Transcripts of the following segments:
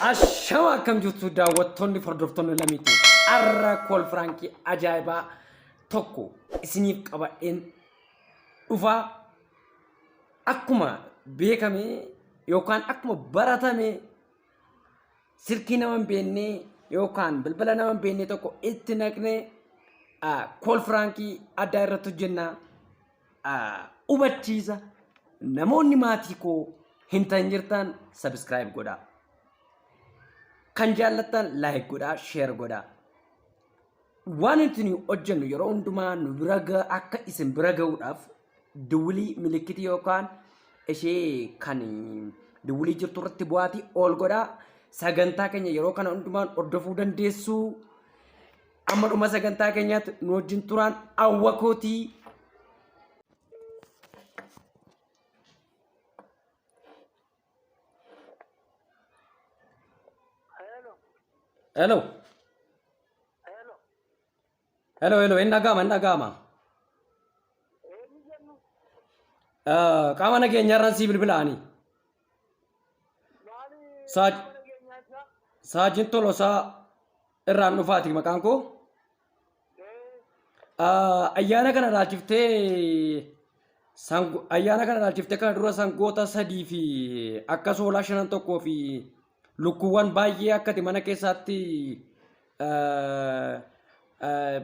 Ashama akkam jirtu daawwattoonni hordoftoonni lamiitu arra kool firaankii ajaa'ibaa tokko isiniif qabadheen dhufaa akkuma beekame yookaan akkuma baratame silkii nama hin beekne yookaan bilbila nama hin beekne tokko itti naqne kool firaankii addaa irratti hojjenna hubachiisa namoonni maatii koo hin ta'in jirtaan sabiskiraayib godhaa. Kan jaallattan laayik godhaa sheer godhaa. Waan nuti nuyi hojjennu yeroo hundumaa nu bira ga- akka isin bira ga'uudhaaf duwwilii milikitii yookaan ishee kan duwwilii jirtu irratti bu'aatii ol godhaa. Sagantaa keenya yeroo kana hundumaan hordofuu dandeessuu. Amma dhuma sagantaa keenyaatti nu wajjin turaan hawwa kootii. Hello. Hello, hello. Hin dhaga'ama, hin dhaga'ama. Eh, Qaama nageenyaarraan sii bilbilaanii. Saaj Saajin Tolosaa irraan dhufaati maqaan koo. Ah, Ayyaana kana ilaalchiftee sango- ayyaana kana ilaalchiftee kana dura sangoota sadii fi akka soolaa shanan tokkoo fi Lukkuuwwan baay'ee akka ati mana keessaatti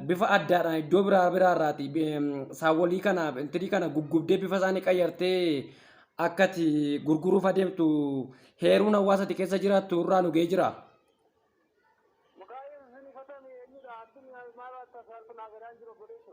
bifa addaadhaan iddoo biraa biraa irraati saawwolii kana intirii kana guggubdee bifa isaanii qayyartee akka ati gurguruuf adeemtu heeruun hawaasa ati keessa jiraattu irraa nu ga'ee jira. Maqaa Yesuusiin ifatame eenyudha? Addunyaa maal akka saaltu naa gadaan jiru godheessu.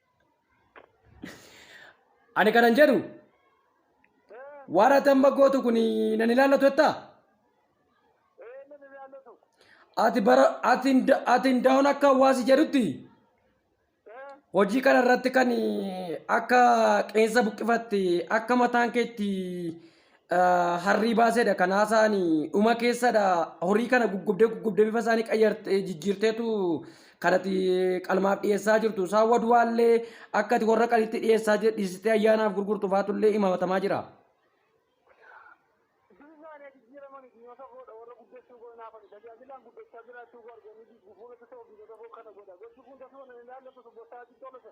Ani kanan jedhu waan ati amma gootu kun nan ilaallatu jettaa? Ati bara ati hinda- ati hundaa'uun akka hawaasi jedhutti hojii kana irratti kan akka qeensa buqqifatte akka mataan keetti harrii baaseedha kan haasa'ani dhuma keessadha horii kana guggubdee guggubdee bifa isaanii qayyartee jijjiirteetu kanati qalmaaf dhiyeessaa jirtu isaan waduwaallee akkati warra qalitti dhiyeessaa jir- dhiisitee ayyaanaaf gurgurtu faatullee imamatamaa jira. Bismillah jijjiirama miti yoo ta'u godha warra guddachuu godha naaf ani tajaajilaan guddachaa jiraachuu godha arganii jijjiirama ta'uu biyya tokko kana godha gochi kun tasuma na ilaallatu bossaa xiqqoo lasa.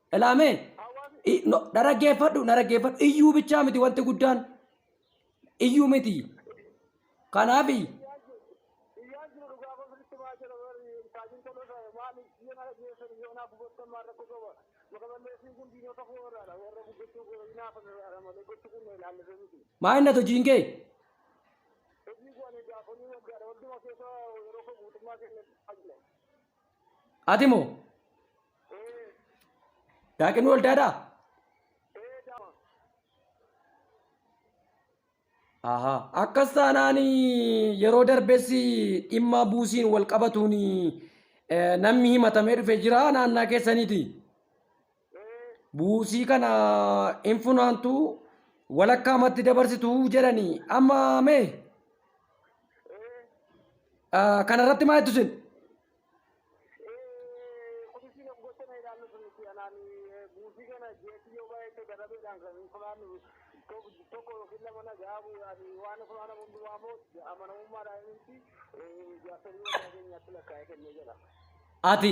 Ilaamee na dhaggeeffadhu na dhaggeeffadhu iyyuu bichaa miti wanti guddaan iyyuu miti. Kanaaf maa inni hojiin kee? Ati moo? Daaqinni waldaadhaa? Ahaa. Akkas taanaan yeroo darbes dhimma buusiin wal qabatuun eh, namni himatamee dhufe jira naannaa keessaniiti. Buusii kana hin funaantu walakkaa matti dabarsitu jedhani amma mee kana irratti maa jettu sin? Ati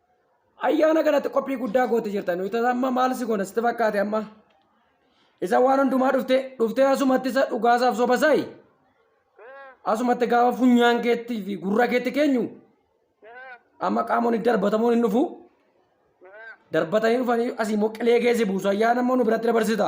Ayyaana kanatti qophii guddaa goote jirta. Nuti amma maal si goona sitti fakkaate amma? Isa waan hundumaa dhufte dhuftee asumatti isa dhugaasaaf soba saayi. Asumatti gaafa funyaan keetti fi gurra keetti keenyu amma qaamonni darbatamuun hin dhufu. Darbatanii dhufanii asii immoo qilee keessa buusu ayyaana immoo nu biratti dabarsita.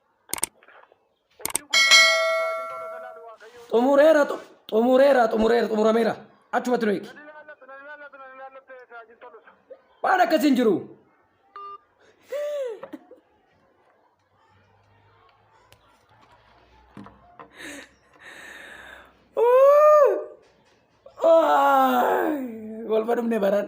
xumureera xu- xumureera xumureera xumurameera achumatti nu eegi waan akkasii hin jiru Waay, wal badhumne baran